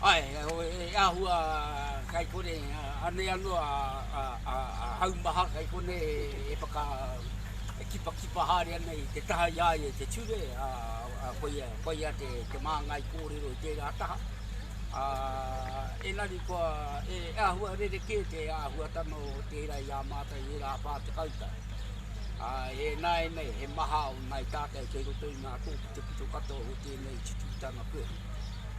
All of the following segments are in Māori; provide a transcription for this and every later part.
Ae, e ahu a kai kore, anei ano a hau maha kai kone e whaka kipakipa haere ana i te taha i a ia i te ture, a koia, koia te māngai kōrero i tērā taha. A, enari kua, e ahua rerekē te ahuatanga o tērā i a mātou i ērā whā tekau tau. A, e nāianei, he maha o nāi tātou kei roto i ngā tōpito pito katoa o tērā. nei tututanga pehu,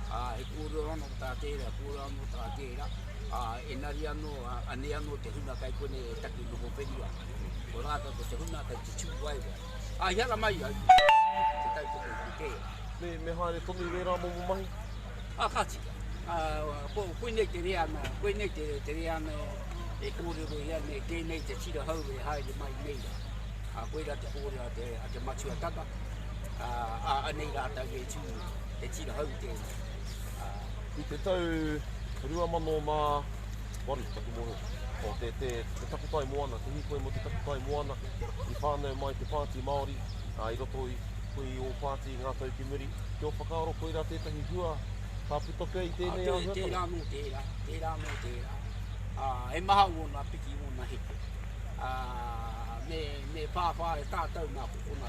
ā, he kōrero anō tā tērā, kōrero anō tā tērā, ā, engari anō, anei anō te hunga kai konei e taki noho wheri ana. Ko rātou ko te hunga kei te tūwaewae. Ā, i ara mai au, te tautoko i te tērā. Me, me haere tonu i wērā momo mahi? Ā, ka tika. Ā, ko, koinei te reanga, koinei te, te reanga e kōrero i a nei, tēnei te tira hou e haere mai nei rā. Ā, koirā te kōrero a te, a te matua tata, ā, ā, anei rātou e tū, he tira hou tēnei. Ā. I te tau 2008, taku mōhio, ko te, te, te takutai moana, te hīkoi mō te takutai moana, i whānau mai te Pāti Māori, ā, i roto i, koe i ō pāti i ngā tau ki muri. Ki ō whakaaro, koirā tētahi hua ka puta pea i Ā, tēnei tē, āhuatanga? tērā nō tērā, tērā nō tērā. Ā, he maha ōna piki, ōna heke. Ā, me, me whāwhā e tātou nā ko konā